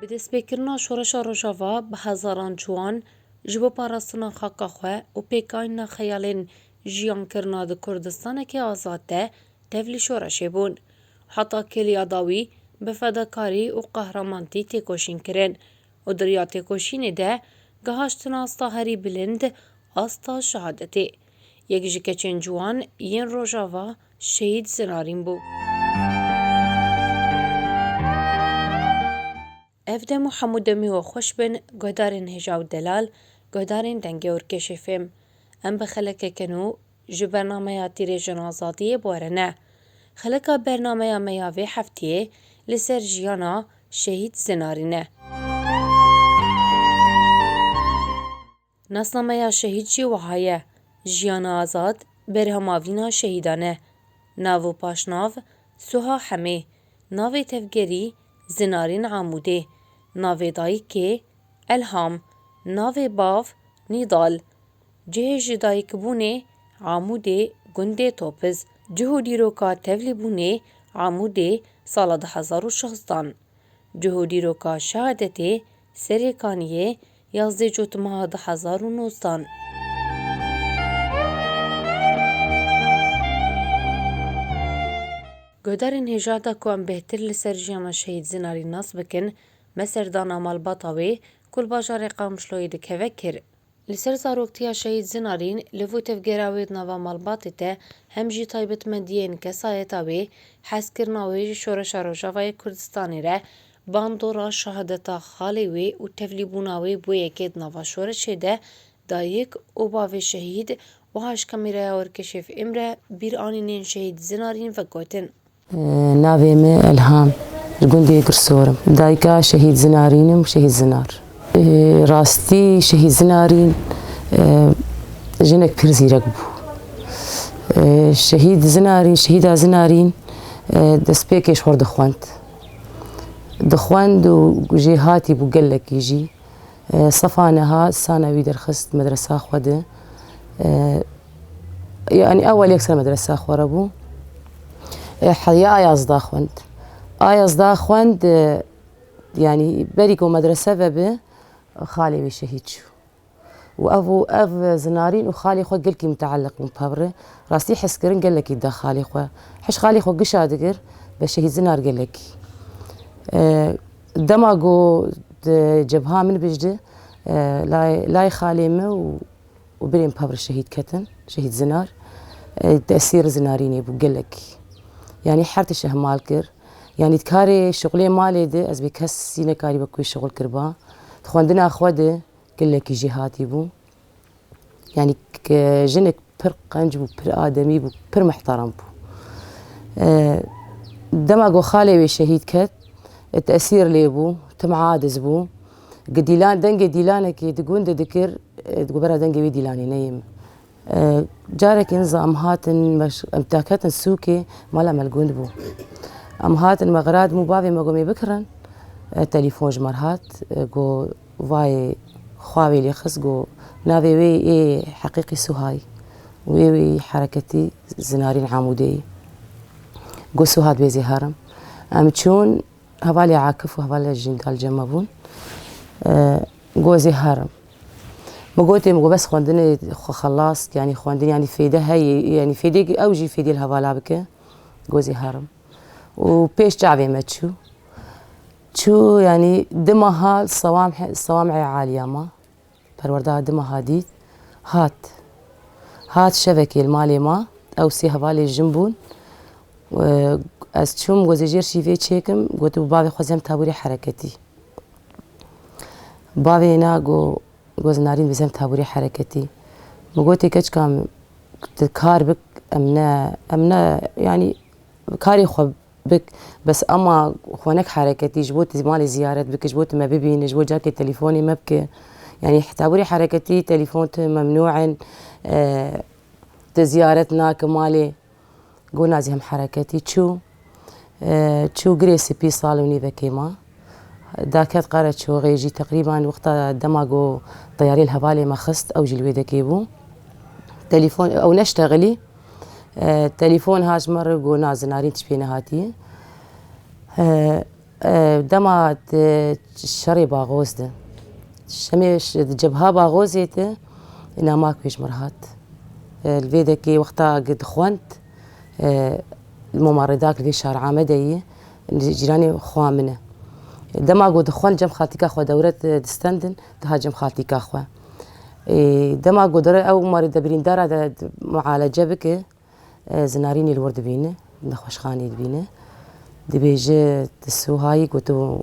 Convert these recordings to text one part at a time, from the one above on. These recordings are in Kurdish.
Bi destpêkirina şoreşa Rojava bi hezaran ciwan ji bo parastina xaka xwe û pêkayîna xeyalên jiyankirina di Kurdistaneke azad de tevlî şoreşê bûn. Heta kêliya dawî bi fedakarî û qehramantî têkoşîn kirin. û di riya têkoşînê de gihaştin asta herî bilind, asta şehadetê. Yek ji keçên ciwan yên Rojava Şehîd Zinarîn bû. Ev dem û hemû demê we xweş bin guhdarên Hêja û Delal, guhdarên Dengê Orkêşê fêm. Em bi xelekeke nû Ji bernameya Tîrêjin Azadiyê barine. Xilika bernameya me ya vê hefteyê li ser jiyana Şehîd Zinarîn e. Nasnameya Şehîd jî wiha ye, Jiyana Azad, Berhemavîna Şehîdan e. Nav û paşnav, Suha Hemê, Navê tevgerî, Zinarîn Amûdê, Navê dayikê, Elham, Navê bav, Nîdal, Cihê ji dayikbûnê, Amûdê, gundê Topiz, cih û dîroka tevlîbûnê, Amûdê, sala du hezar û şazdan, cih û dîroka şehadetê, Serê Kaniyê, yazdê cotimeha du hezar û nozdan. Guhdarên hêja da ku em bêhtir li ser jiyana Şehîd Zinarî nas bikin, me serdana malbata wê ku li bajarê Qamişloyê dikeve kir. Li ser zaroktiya Şehîd Zinarîn li vû tevgera wê di nava malbatê de hem jî taybetmendiyên kesayeta wê, hezkirina wê ji Şoreşa Rojavayê Kurdistanê re, bandora şehadeta xalê wê û tevlîbûna wê bo yekê di nava şoreşê de, dayik û bavê şehîd wiha ji kameraya Orkeşêf Îmre bîranînên Şehîd Zinarîn vegotin. Navê min Elham. Li gundê Girsor im. Dayika Şehîd Zinarîn im, Şehîd Zinar. Rastî Şehîd Zinarîn jinek pir zîrek bû. Şehîd Zinarîn, Şehîda Zinarîn destpêkê ji xwe dixwend. Dixwend û jêhatî bû gelekî jî. Sefa niha sana wî derxist medresa xwe di. Yani ewel yek sene medresa xwe re bû. E, Heyya Ayazda xwend. Ayazda xwend e, yani berî ku medrese ve bi xalê wî şehîd çû. û ev û ev zinarîn û xalê xwe gelkî muteleq bûn pevre. Rastî hezkirin gelekî da xalê xwe. Hiş xalê xwe gişa digir be şehîd zinar gelekî. E, dema ku di cebha min bijdi, e, lay, lay xalê min û û birên pavr şehîd ketin, şehîd zinar di esêr zinarî nebû gelek. Yanî her tişt ihmal kir. Yanî di karê şixulê malê de ez bê kesî nekarî be ku wî şixul kiriba. Di xwendina xwe de gelekî jê hatî bû. Yanî jinik pir qenc bû, pir ademî bû, pir mihterem bû. Dema ku xalê wê şehîd ket, di esêr lê bû, tim adiz bû. Gi dîlan dengê dîlanekî di gundê dikir di gobera dengê wî dîlanê neyê min. Carekî niza em hatin em daketin sûkê mala me li gund bû. Em hatin me xirat mû bavê me gomê bikirin. Telîfon ji me re hat go vayê xwa wê lê xist go navê wê yê heqîqî Suhay û yê wê yê hereketî Zinarîn Amûdeyî. Go Suha divê zê herim. Em çûn Hevalê Akif û hevalê Jîndal Cema bûn. Gozê her im. Min gotê min got bes xwendinê xwe xelast yanî xwendinê yanî fêde heye yanî fêdê ew jî fêdê li hevala bike. Gozê her im. Û pêş çavê me çû. Çû yanî di meha sewam sewam ê aliya ma. Perwerda di meha dî hat. Hat şevekê li malê ma. Ew sê hevalên jin bûn. Ez çûm gozê jêr şîvê çêkim. Gotibû bavê xwezî hem taborî hereketî. Bavê na got goz Narîn biz hem taborî hereketî. Min gotê keçika min tu kar bik em ne em ne yanî karê xwe Bik, bes ema xwe nek hereketî, ji bo tu malê ziyaret bike, ji bo tu me bibîne, ji bo carkê telîfonê me bike. Yanî tabûrê hereketî, telîfon tune memnû in, tu ziyaret nake malê. Gona zî hem hereketî çû, çû girê spî sal û nîvekê ma. Daket Qaraçoxê jî teqrîban wexta dema ku teyarê li hevalê me xist ew jî li wê dekê bû. Telefon ew neştexilî. Telefon hat ji me re ku na Zinarîn tişt pê nehatiye. Dema di şerê Baxoz de şemê di cebha Baxozê de namak wê ji me re hat. Li vê dekê wexta ku dixwend Moma Redak li vê şar Amedê ye. Li cîranê xwa min e. Dema ku dixwend cem xaltîka xwe dewre distendin, diha cem xaltîka xwe. Dema ku dore ew marê de birîndara de mualece bike, zinarînê li wir dibîne, nexweşxaneyê dibîne. Dibêje ti Suhayî ku tu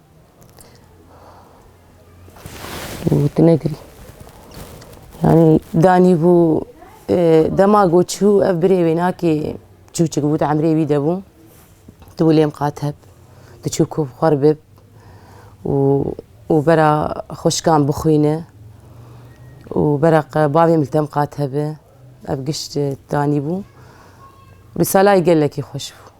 Gotinekirî. Yani danî bû e, dema got çû ev birê wê nakê çûçik bû emrê wî de bû. Tu wê lêm qat heb. Tu çû ku xwar bib û û bera xweşkan bixwîne û bera bavê min tem qat hebe. Ev gişt danî bû. Risalayê gelekî xweş bû.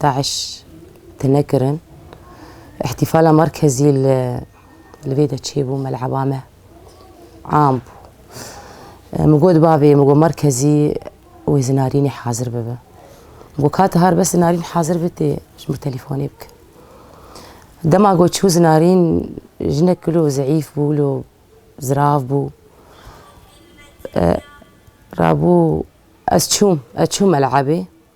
DAIŞ tune kirin. Îhtîfala merkezî li vê de çêbû meleba me am bû. Min got bavê min got merkezî wê zinarînê hazir bibe. Min got kate har bes zinarîn hazir be tê ji min telîfonê bike. Dema got çû zinarîn jinek wilo zeîf bû wilo zirav bû. Rabû ez çûm ez çûm melebê.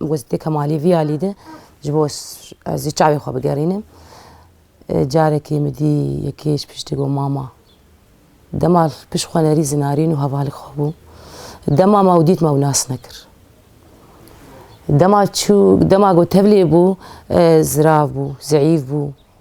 Got dê Kemalî vî alî de ji bo ez jî çavê xwe bigerînim. Carekê min dî yekê ji piştî got mama. Dema pişt xwenerî zinarîn û heva li xwe bû. Dema me ew dît me ew nas nekir. Dema çû dema got tevlê bû zirav bû, zeîf bû.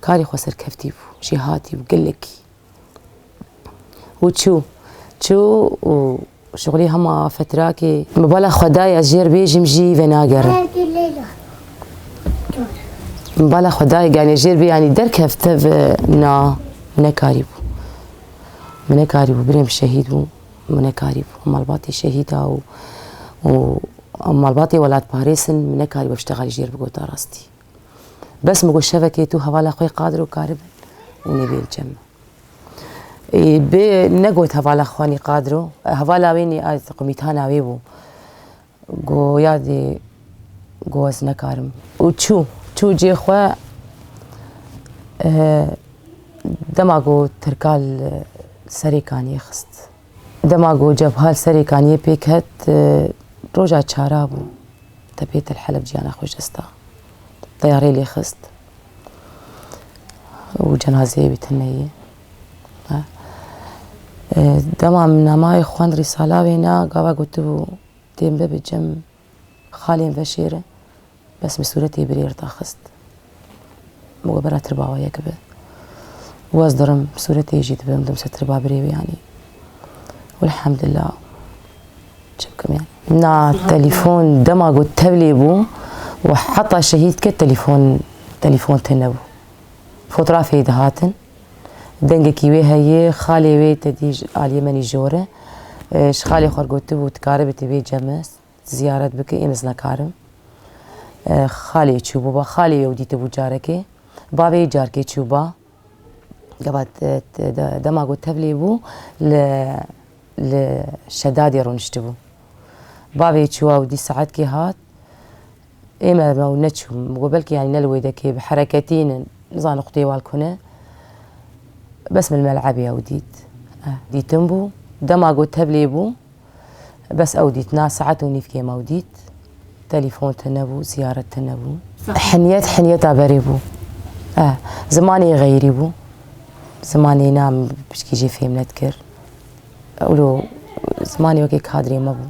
Karê xwe serkeftî bû, jê hatî û gelekî û çû. Çû û şixulî hema fetirakê. Bi bala xwedayê ez jêr bêjîm jî venagerim. Bi bala xwedayê ganê jêr bê yanî derkevt tev na min nekarî bû. Min nekarî bû birêm şehîd bû. Min nekarî bû malbatê şehîda û û malbatê welatparêz in min nekarî bû ev ştexa jêr bigota rastî. Bes min got şevekê tu hevala xwe qadir û kari bin û nêbêl cem. Bê negot hevala xwanî qadiro, hevala wê nî ez qumîtana wê bû. Go ya dê go ez nekarim. Û çû, çû cê xwe dema go tirkal serê kaniyê xist. Dema ku Cebha li serê kaniyê pêk hat, roja çara bû. Tepê Tel Helef ciyana xwe ji dest da. Teyarê lê xist û cenazeyê wî tune yê. Dema min namayê xwend Rîsala wêna, gava gotibû, Tên bibe cem. Xalên ve şêr e. Bes min sûretê birêr daxist. Min got bera tirba we yek be. Û ez dirim sûretê jî dibim dim ser tirba birê wê yanî. Welhemdullah. Çi bikim yanî. Na telefon dema ku tevlê bû û heta şehîd ket telefon telefon tê nebû. Fotrafê dihatin. Dengekî wê heye, xalê wê tedî ji aliyê me nîjor e. Ji xalê xwe re gotibû, Tu karibî tu bê cem e, tu ziyaret bikî, êm ez nekarim. Xalê çûbû ba, xalê wê ew dîtibû carekê. Bavê yê carkê çû ba. Gava dema ku tevlî bû li li Şedadê rûniştibû. Bavê çû ew dî saetkê hat. Ême me û neçûm got belkî yanî ne li wê dekê bi hereketî ne nizane qutiyê wal kune. Bes min li melebê ew dît. Dîtin bû. Dema got teblê bû. Bes ew dît. Na saet û nîvkê me ew dît. Telîfon tune bû, ziyaret tune bû. Hinyet hinyeta berê bû. Zimanê xeyrî bû. Zimanê na min piştî jê fêm nedikir. Ewlo zimanê wekî kadrê me bû.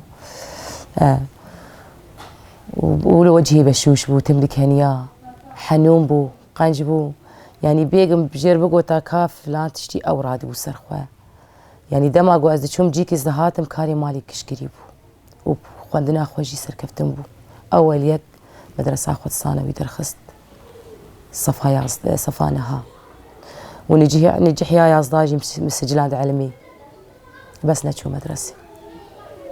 û li wecihê beşûş bû, tim dikeniya, henûn bû, qenc bû. Yanî bêgim jê re bigota ka filan tiştî ew radibû ser xwe. Yanî dema ku ez diçûm cî kes dihatim karê malê kişkirî bû û xwendina xwe jî serkeftin bû. Ewel yek medresa xwe di sanewî derxist sefa yazdeh sefa niha û niciha nicihiya yazdeh jî min siciland elmî. bes neçû medresê.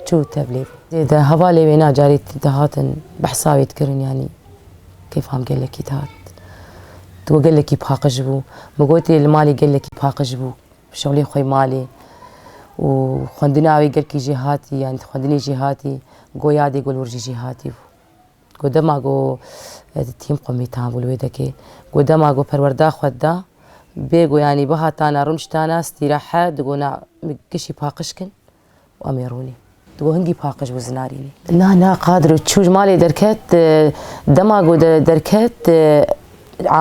Çû tevlê bû. Dê de hevalê wê na carî dihatin behsa wê dikirin yanî kêfam gelekî dihat. Tu we gelekî paqij bû. Min gotê li malê gelekî paqij bû. Şewlê xwe malê û xwendina wê gelkî jêhatî yanî xwendinê jêhatî goya dê gul wir jî jêhatî bû. Ku dema ku tîm xwe mîtan bû li wê dekê, ku dema ku perwerda xwe dida, bê ku yanî bihatana rûniştana stîrahe di ku na min kişî paqij kin û em ê rûnîn. Di ku hingî paqij bû zinarînî. Na na Qadir û çû ji malê derket dema ku derket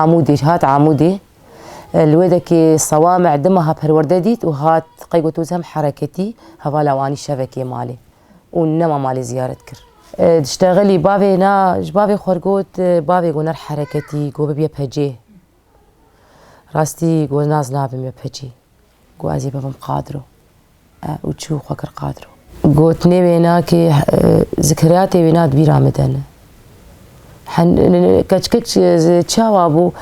Amûdê hat Amûdê li wê dekê sewame di meha perwerde dît û hat qey ku tu zem hereketî hevala wan î şevekê malê û nema malê ziyaret kir. Dişteğilî bavê na ji bavê xwe re got, Bavê got ner hereketî got bibiye pecê. Rastî got naz nabim me pecê. Got ez ê bibim qadro. E û çû xwe kir qadro. Gotinê wê na kê zikriyatê wê na di bîra min de ne. Keçikek çawa bû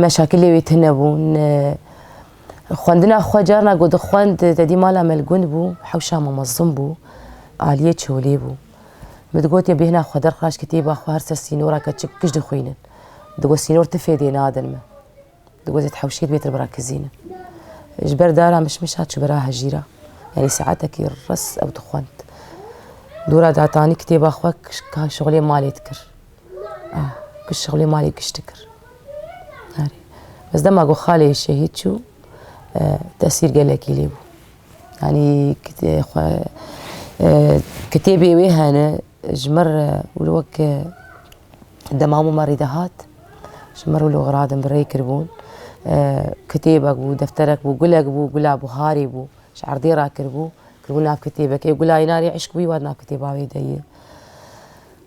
meşakilê wê tune bûn. Xwendina xwe carna ku dixwend tedî mala me li gund bû, hewşa me mezin bû, aliyê çolê bû. Min digot ya bêhna xwe derxiraş kitêba xwe her ser sînora ke çik kij dixwînin. Digot sînor ti fêdê nadin min. Digot ez hewşê dibê te bira kizînin. Ji ber dara mişmişa çû bira hejîra. Yanî saetekî res ew dixwend. Dora datanî kitêba xwe şixulê malê dikir. Ku şixulê malê giş dikir. Arê. Bes dema ku xalê şehîd çû tesîr gelekî lê bû. Yanî kitêbê wê hene ji mir wilo wek dema hemû me rî de hat ji mir wilo xiradim bi rê kiribûn. Kitêbek bû, defterek bû, gulek bû, gula buharê bû. Ji erdê re kiribû. Kiribû nav kitêbekê. Gula îna rê îşq bû yê wat nav kitêba wê de yê.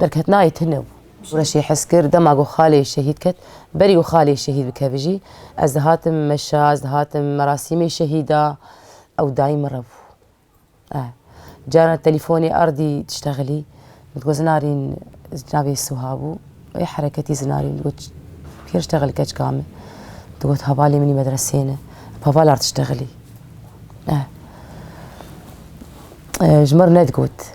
Derketnayê tune bû. Reşê hes kir, dema ku xalê şehîd ket, berî ku xalê şehîd bikevijî, ez dihatim meşa, ez dihatim merasîmê şehîda, ew dayî min re bû. Eh. Caran telîfonê ardî diştexilî, min digot zinarîn, navê Suha bû, wê hereketî zinarîn, min digot kê diştexilî keçika min? Digot hevalê min î medreseyê ne. Bi heval ard diştexilî. Eh. Ji min re nedigot.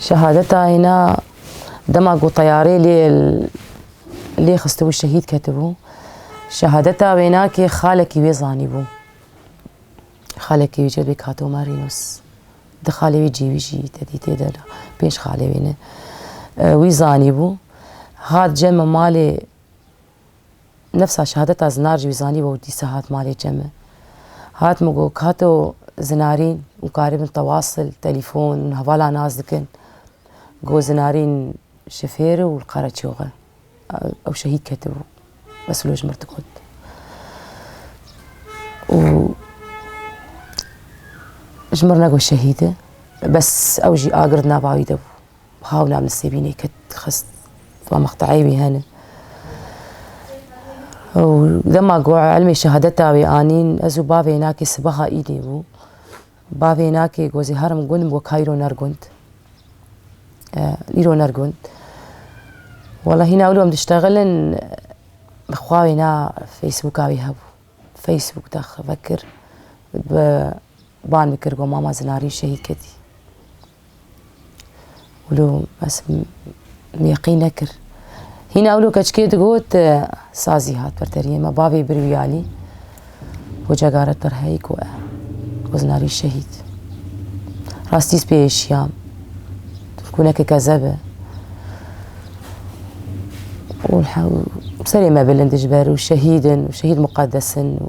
Şehadeta hêna dema ku teyarê lê lê xistibû şehîd ketibû. Şehadeta wênakê xalekî wê zanîbû. Xalekî wî cebê Kato Marînûs. Di xalê wî cîwî jî tedî tê de pênc xalê wî ne. Wî zanîbû. Hat cem malê Nefsa şehadeta Zinar jî wî zanîbû û dîsa hat malê çe min. Hat min got, Kato Zinarîn û karî bin tewasil, telîfon û hevala nas dikin. Got, Zinarîn şofêr û li Qereçox e. Ew şehîd ketibû. Bes wilo ji mirdi got. Û ji mir negot şehîd e. Bes ew jî a gird nava wî de bû. Hewla min sêvînê kir xist va mexteyê wî hene. Ew dema ku elmê şehadeta wê anîn ez û bavê nakê sibaha îdê bû. Bavê nakê ku ez ê herim gund bû kayro ner gund. Îro ner gund. Wala hîna ewlom diştegelin xwa wê na Facebooka wê hebû. Facebook de xivekir. Ban bikir ku mama zinarî şehîd ketî. Wilo ez yaqîn nekir. Hîna wilo keçikê digot sazî hat ber deriyê me bavê bir wî alî. Hoca garet ber heyî ku e. Koznarî şehîd. Rastî pê êşiyam. Turkûneke kezeb e. Serê me bilind ji ber û şehîdin û şehîd muqedesin û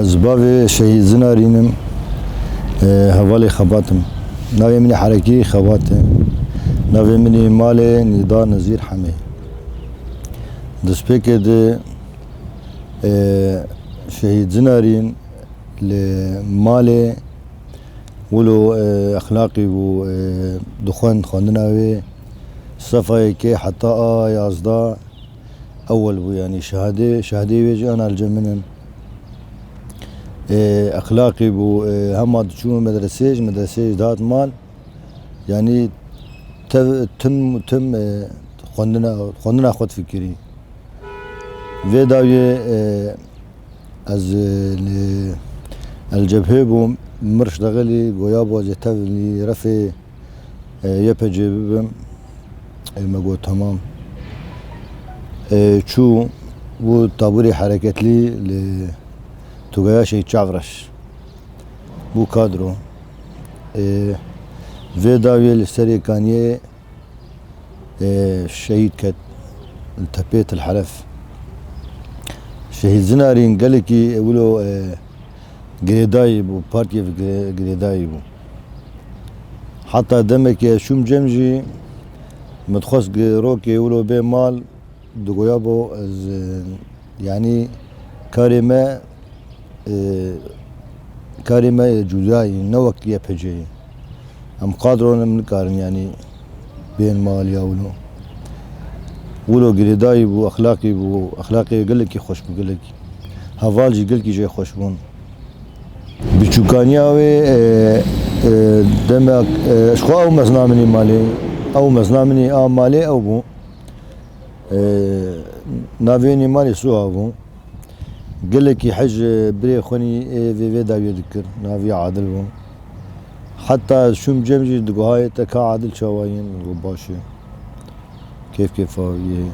Ez bavê şehîd Zinarîn im, hevalê xebat im. Navê min Herekî Xebat e. Navê min ê malê Nîda Nezîr Hemê. Destpêkê di şehîd Zinarîn li malê wilo exlaqî bû dixwend xwendina wê sefayê kê heta a yazda ewel bû yanî şehadê şehadê wê jî ana li cem min in. Exlaqî bû hema diçûn medresê ji medresê jî dihat mal yanî tev tim tim xwendina xwendina xwe difikirî. Vê dawiyê Ez li Elcebhê bûm, Mirş Degelî goya bajê tev li refê YPG'ê bibim. Ê me got temam. Ê çû bû tabûrê hereketlî li Tugaya Şehîd Çavreş. Bû kadro. Ê vê dawiyê li serê kaniyê Şehîd ket li tepê Tilheref. Şehîd Zinarîn gelekî wilo girêdayî bû, partiyê ve girêdayî bû. Heta demekî ez çûm cem jî min dixwest rokê wilo bê mal. Digoya bo ez yanî karê me karê me yê cuda yî ne wek YPG yî. Em qadro ne nikarin yanî bên mal ya wilo. Wilo girêdayî bû, exlaqî bû, exlaqê gelekî xweş bû gelekî. Heval jî gelkî jê xweş bûn. Bi çûkaniya wê demek ji xwe ew mezna min ê malê. Ew mezna min ê a malê ew bû. Navênî malê Suha bû. Gelekî hej birê xwenî ê vê vê dawiyê dikir. Navê Adil bû. Heta ez çûm cem jî diguhayê te ka Adil çawa yê? Min got baş e. Kêf kêfa wî yê.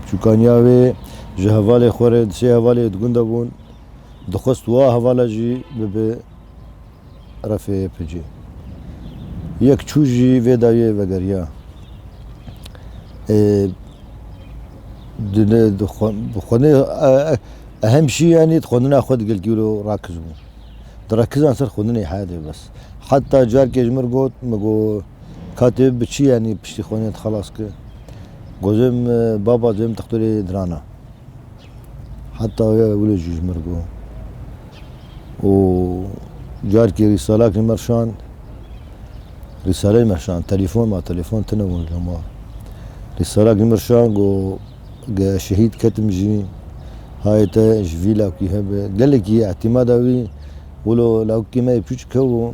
Biçûkaniya wê ji hevalê xwe re di sê hevalê di gunda bûn. Dixwest wa hevala jî bibe. RFYP'cê yek çû jî vê dayê vegeriya. Ehm şî yanî di xwendina xwe di gelgîro rakiz bû. Di rekizan ser xwendinê heyadê bes. Heta carkê ji min got min got Katê bi çi yanî piştî xwendinê dixelas ki? Gotim baba duyem dixtorê diran e. Heta ya wilo jî ji mir bû. Û carkê rîsalakî mir şand, rîsaleyê mir şand, telefon ma, telefon tune bûn li ma. Rîsalakî mir şand got, ge ez şehîd ketim jî, hayê te ji vî lawkî hebe. Gelekî îhtimada wî wilo lawkî me yê pûç kewû.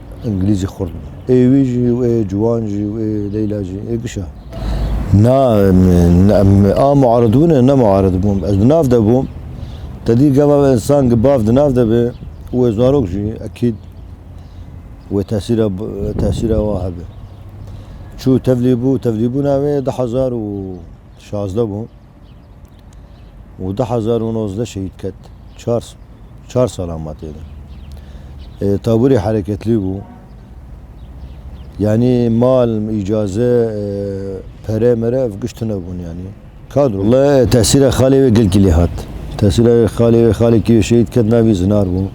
Îngilîzî xurt bû. Ê wî jî û ê ciwan jî û ê Leyla jî ê gişa. Na, em a muarid bûne, ne muarid bûm. Ez di nav de bûm. Te dî gava însan gi bav di nav de be û wê zarok jî ekîd wê tesîra tesîra wan hebe. Çû tevlî bû, tevlîbûna wê du hezar û şazdeh bû. û du hezar û nozdeh şehîd ket. Çar çar salan ma têde. Ê taburê hereketlî bû. Yanî mal, îcaze, pere mere ev giş tune bûn yanî. Kadro. Walla tesîra xalê wê gelkî lê hat. Tesîra wê xalê wê xalê kî wê şehîd ket navî Zinar bû.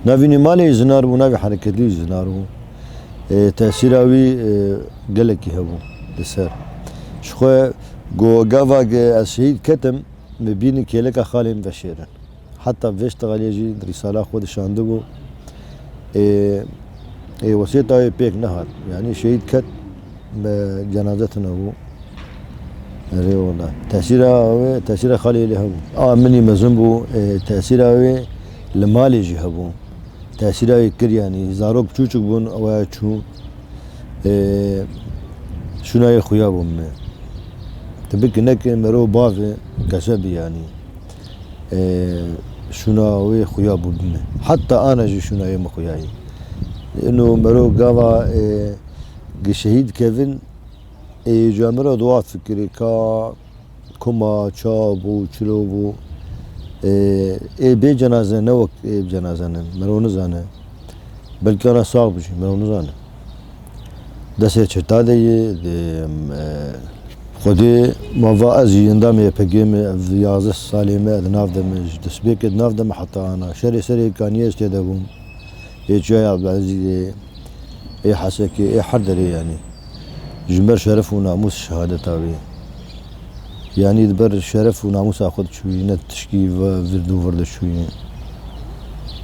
Navî nî malê yê Zinar bû, navê hereketlî yê Zinar bû. Ê tesîra wî gelekî hebû li ser. Ji xwe Ku gava ke ez şehîd ketim, me bînin kêleka xalên veşêrin. Heta vêşta aliyê jî rîsala xwe dişandibû. Ê ê wesêta wê pêk nehat. Yanî şehîd ket, me cenaze tune bû. Rê wela. Tesîra wê, tesîra xaliyê lê hebû. A minî mezin bû, ê tesîra wê li malê jî hebû. Tesîra wê kir yanî. Zarok çûçik bûn, waya çû. Ê şûnayê xuya bû min e. Ti bikinekê merov bavê keşe bî yanî. Ê şûna wê xuya bû bi min. Heta ana jî şûnayê min xuya yê. Îno merov gava ê gi şehîd kevin ê ca min ra di wat fikirê ka Koma, çav bû, çilo bû. Ê bê cenaze ne wek ê bi cenaze ne. Merov nizane. Belkî ana sax bi jî merov nizane. Desê çirta de yê dê Xwedê ma va ez jî endamê YPG'ê me ev yazdeh salê me di nav de me ji destpêkê di nav de me heta ana şerê serê kanî ez tê de bûm. Ê çiya ya Abdulezîzê ê Hesekê ê her derê yanî. ji ber şeref û namûs şehadeta wê yanî di ber şeref û namûsa xwe diçûyî ne tişkî vir dû vir diçûyî.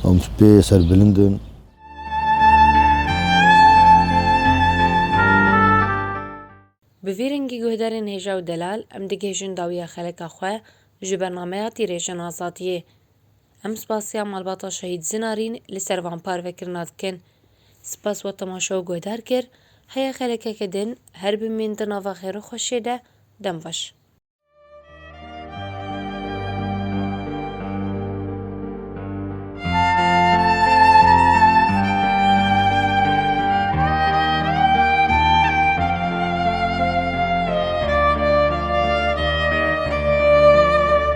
Em pê serbilind in. Bi vî rengî guhdarên hêja û delal em digihêjin dawiya xeleka xwe ji bernameya tîrêjin azadiyê. Em spasiya malbata şehîd Zinarîn li ser van parvekirina dikin. Spas we temaşe û guhdar kir, heye xelekeke din, her bimîn di nava xêro xweşiyê de, dem baş.